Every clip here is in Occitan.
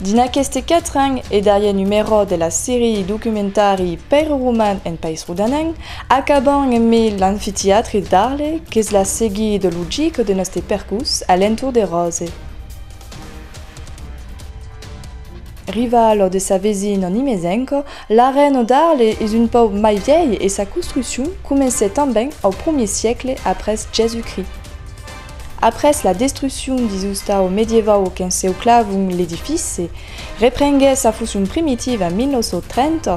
Dins aqueste quatren e darrier numerò de la serie documentari Pèire Roman en País Rodanenc, acabam emé l'Anfitiatri d'Arle qu'es la seguide logique de noste percus a l'entorn de Ròse. Riva lo de sa vesin en Imezenco, l'arena d'Arle es un pauc mai vièlh e sa construccion comencèt tanben au primièr siecle après Jèsus-Crist. Après la destruccion dins ostau medievau au XVèu clavon l'edifici reprenguèt sa foncion primitiva en 1930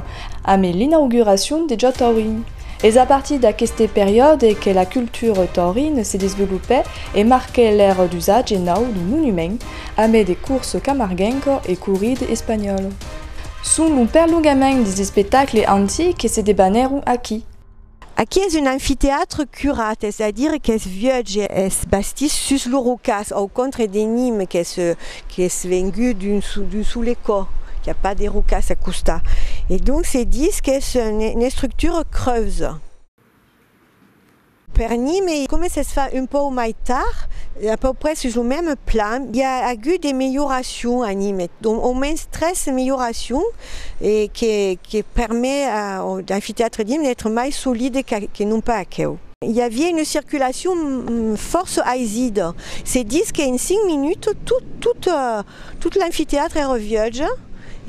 amé l'inauguracion de Ja Taurin. Es a partir d'aqueste periòde que la cultura taurine se desvelopèt e marquèt l'èra d'usatge nau du monument amé de corsa camarguenca e corrida espanhòla. Son lo perlongament des espectacles antics que se debanèron aquí. Aquí es un amfiteatre curat, es a dire qu'es vieuj e es bastís sus lo rocàs, au contre de Nîmes qu'es qu'es vengut d'un d'un sole cò, qu'i a pas de rocàs a costat e donc se ditz qu'es une estructure creuse. Per Nîmes e coma s'es fach un pauc mai tard, a peu près sus lo meme plan, i a agut de melhoracions a Nîmes, au mens tres melhoracions e que que permet au amfithéâtre d'Himne d'être mai solide que non pas aqueu. I aviá una circulacion fòrça aisida, se ditz qu'en 5 minuts tot l'amfithéâtre èra viatge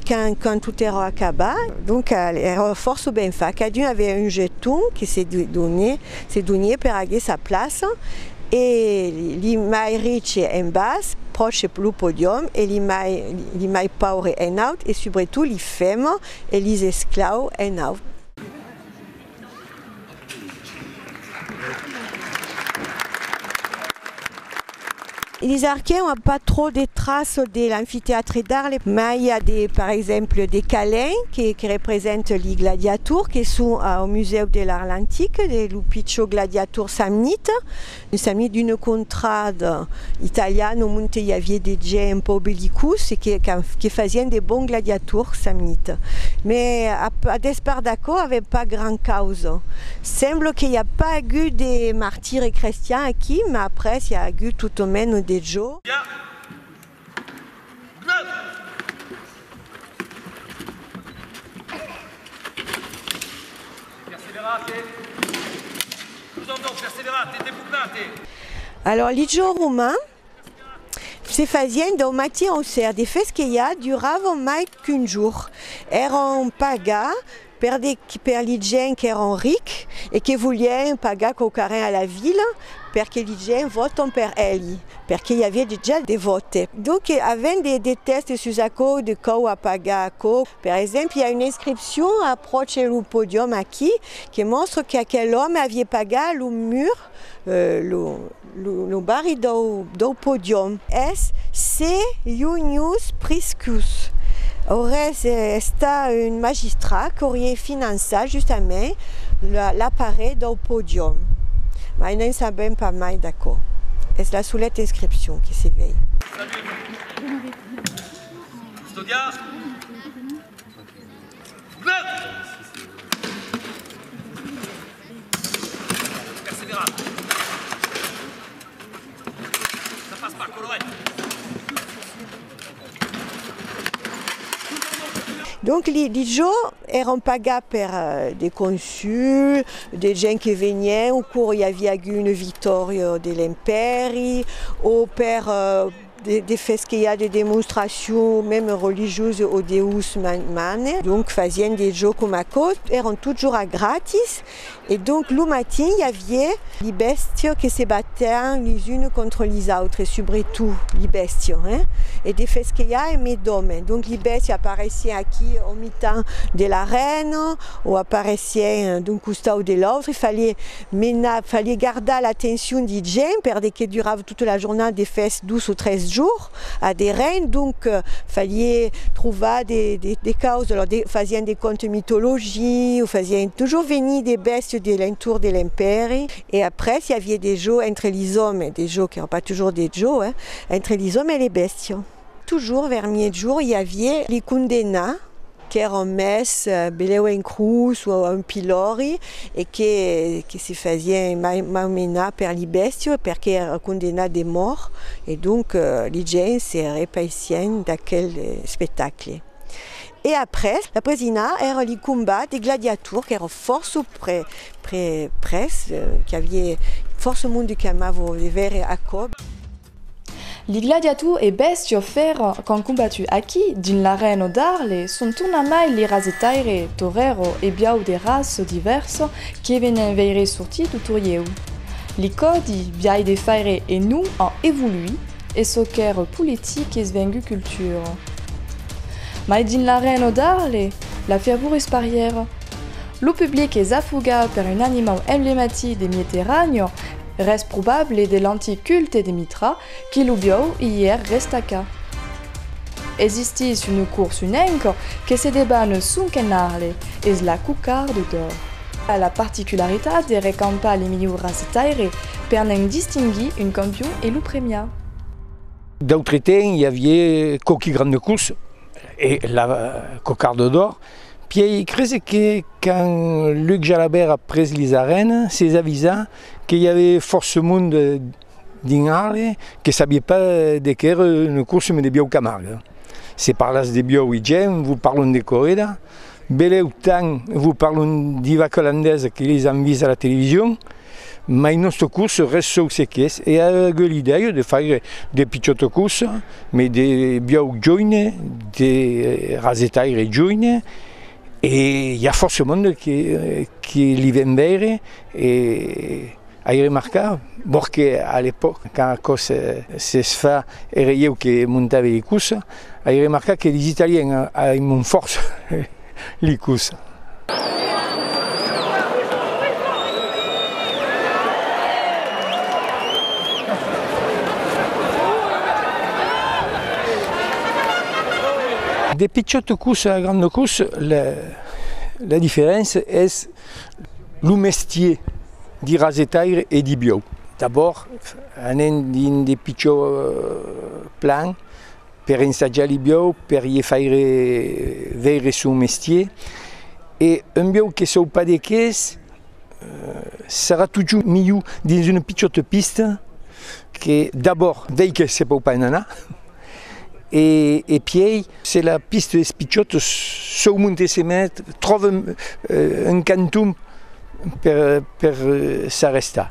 quand tot èra acabat, donc èra fòrça ben fach, cadun aviá un jeton que se donié per aguer sa plaça e li mai riche en bas, pròche lo podium, e li mai paure en aut e subretot Fèm, e lis esclau en aut. Lis arquèm a pas trop de tras de l'amfitèatre d'Arles, mai i a de, per exemple, de calèn que que represente li gladiators que son au Musèu de l'Arlantic, de lo pichor gladiator samnit, Nos amis d'una contrada italiana au monte i aviá de gents un pauc bellicós e que fasián de bons gladiators amita. Mes a despart d'aquò avèm pas gran causa. Sembla que i a pas agut de martires crestians aquí, mas après i a agut tot au menos de jo. Alòrs, li jorn romain se fasièn dau matin au ser, de fes que ja duravan mai qu'un jorn, èran paga Perdic per li gents qu'èran ric e que volien pagar quauquarren a la vila perque li gents vòton per èli, perque i aviá dejà de vòte. Donc avèm de tèstes sus aquò de cau a pagar aquò. Per exemple, i a una inscripcion a pròche lo podium aquí que mòstra qu'aquel òme avié pagar lo mur, lo. Lo barri dau podium es se Iunius Priscus. Aurès estat un magistrat qu'aurie finançat justament l'aparelh dau podium, mai ne'n sabèm pas mai d'aquò. Es la soleta inscripcion que se vei. Salut! Estudiar? Donc li li jòu èran pagats per de consuls, de gents que venien au cours i aviá agut una victòria de l'Empèri o per De fes que i a de demonstracion meme religiosa o Deus mane, donc fasien de jo com aquò, èran totjorn a gratis e donc lo matin i avié li bèstia que se batèan lis unes contra lis autres, subretot li bèstia hein, e de fes que i a emé d'òme, donc li bèstia aparesien aquí au mitan de l'arèna o aparesien d'un costau de l'autre, falié menar, falié gardar l'atencion di gent per de que durava. Tota la jornada de fèst, dos o tres jours a de rein, donc falie trovar de caus, alors fasián de contes mythologie o fasián toujours venir de bèstias de l'entorn de l'empèri e après i avie de jòu entre lisòmes, de jòu qu'èran pas toujours de jòu, entre lisòmes e les bèstias. Tujor vers miègjorn i avié li condenna qu'èran mès belèu en crus o a un pilòri e que que se fasién malmenar per li bèstiu perque èra condenat de mòrt e donc li gents se repaisién d'aquel espectacle. E après la presina èra li combat de gladiator qu'èra fòrça pre pre pres qu'i avié fòrça monde qu'amava de veire aquò. Li gladiator e bèstia fèra qu'an combatu aquí, dins l'arèna d'Arle, son tornamai li rasetaire, torero e biau de raça divèrsa que venen veire sortir lo torieu. Li còdi, biai de faire e non, an evoluit e çò qu'èra politic es vengut cultura. Mai dins l'arèna d'Arle, la fervor es parièra. Lo public es afogat per un animau emblematic de Mieterània, Res probable de l'antic culte de Mitra qui lo biòu i ièr restaca. Existís una cors un enco que se deban un sonquen arle, es la Cocarde d'Or. A la particularitat de recampar li milhouras de taire per ne'n distinguir un campion e lo premiar. D'autre temps i avié quauqui grande cors e la Cocarde d'Or, pièi crese que quand Luc Jalabert a pres lis arènes, s'es avisat Que i avè fòrça monde dins Arles que sabié pas de qué ère une course mais de biòu Camargue. Se parlatz de biòu i gèn vos parlon de correda, belèu tan vos parlon d'i vaca holandesa que les an vist a la television, mai nòstre course res sòu se qu'es e aguè l'idèia de faire de pichòta course mais de biòu joine, de rasetaire joine E i a fòrça monde que li ven veire e ai remarcat, vòrt que a l'epòc, quand aquò s'es fat, ère ieu que montave li cussa, ai remarcat que lis Italiens aiman fòrça li cussa. De pichòt cus a grand cus, la diferéncia es lo mestier de rasetaire e de biòu. D'abòrd anem dins de pichòt plan per ensajar li biòu, per lhe faire veire son mestier e un biòu que saupa de qué es, serà totjorn milhor dins una pichòta pista que d'abòrd dei que se pòu pas en anar e e piei se la pista es pichòta sòu monte se met tròva un canton per per s'arrestar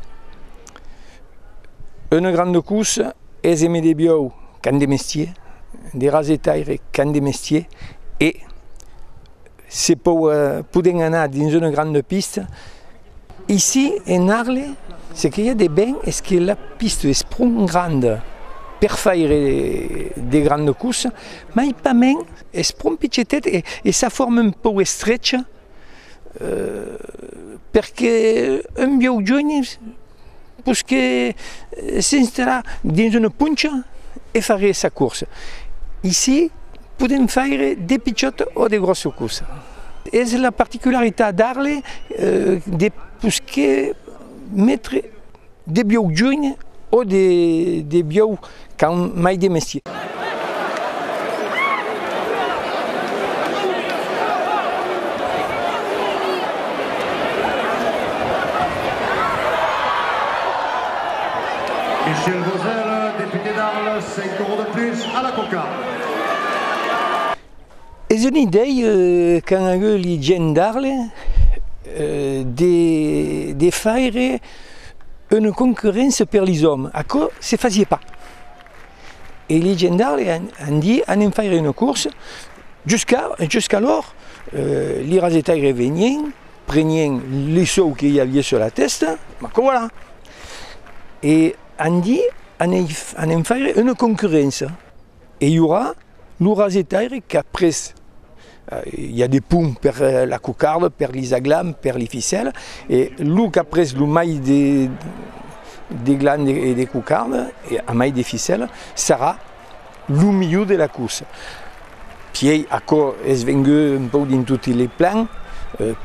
una granda corsa es eme de biòu qu'an de mestier de rasetaire qu'an de mestier e Se pòu poden anar dins una granda pista ici en Arles, se que i a de ben es que la pista es pro granda per faire de granda cursa, mai pas mens es pro pichetet e sa forma un pòu estrecha per que un vieu jueni Pus que s'installà dins una poncha e fagué sa corsa. Ici podèm faire de pichòta o de gròssa corsa. Es la particularitat d'Arles de pus que metre de bieu junh o de bieu Qu'an mai de mestier. Michel Vogel, deputé d'Arles, en corró de plus a la cocarde. Es un idei qu'an agut li gents d'Arles de faire una concurrència per li òmes, aquò se fasiá pas. E li gendarmes an dit anem faire una corsa, jusqu'alors li rasetaires venien, prenien li sòu que i aviá sus la tèsta, ma que voilà! E an dit anem faire una concurrència. E i aurà lo rasetaire qu'après i a de pum per la cocarda, per li zaglams, per li ficèla, e lo qu'après lo mai de glan e de cocarda e a mai de ficèla sarà lo milhor de la cursa. Pièi aquò es vengut un pauc dins toti li plans,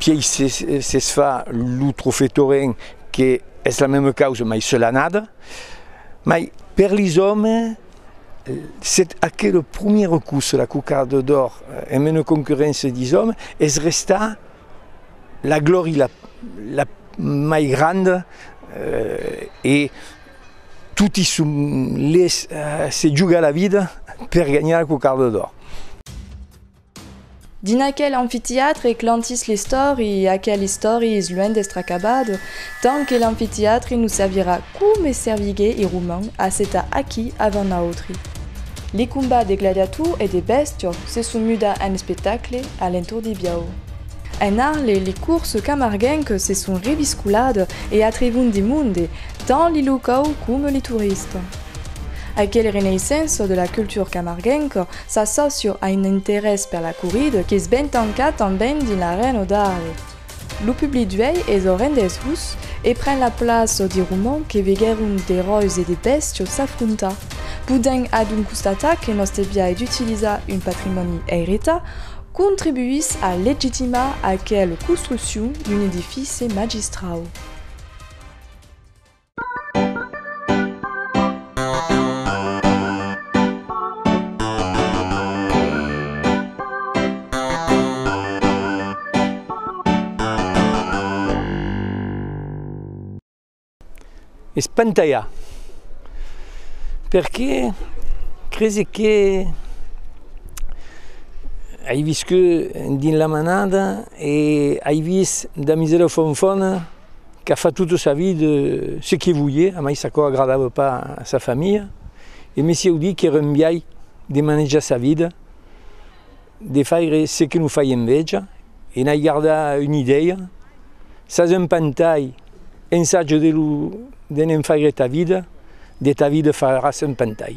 pièi s'es fa lo trofè Torrent que es la mema causa mai se l'anada, mai per li òmes, Sèt aquela promièra cursa, la Cocarde d'Or, en mena concurréncia dis òmes, es restà la glòri la la mai granda e toti son lés se jugar la vida per ganhar la Cocarde d'Or. Dins aquel amfiteatre clantís l'istori e aquel istori es luènh d'estre acabat, tant que l'amfiteatre nos servirà coma servigué e roman a s'eta aquí avant nautri. Les combats de gladiators e de bèstior se son muda en espectacle a l'entorn de Biau. En Arles les courses camarguenques se son reviscoladas e atrevon de monde, tant les locaux coma les touristes. Aquel renaissance de la cultura camarguenca S'assòcio a un interès per la corrida qu'es ben tancat tanben dins l'Arèn o Darle. Lo public d'uèi es orendesús e pren la plaça de romans que veguèron d'eròis e de bèstios s'afrontar. Podèm adonc constatar que nòste biais d'utilizar un patrimòni eiretat contribuís a legitimar aquela construccion d'un edifici magistrau. Espantalhar. Perqué crese que ai viscut dins la manada e ai vist da miserofonfòna qu'a fat tota sa vid se que volie, amais aquò agradava pas a sa familha, e mesi audí qu'èra un biais de manejar sa vida, de faire se que non faie enveja, e n'ai gardat una idèia, sas un pantai, ensaja de lo de ne'n faire ta vida, de ta vida faràs un pantai.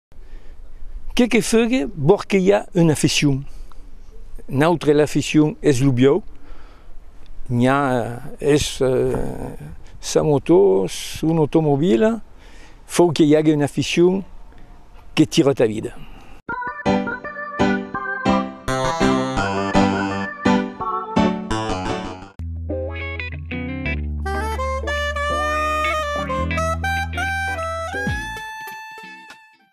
Que que fegue vòr que i a una aficion? Nautre l'aficion es lo biòu, n'i a es sa motò, son automobila, fòu que i ague una aficion que tira ta vida.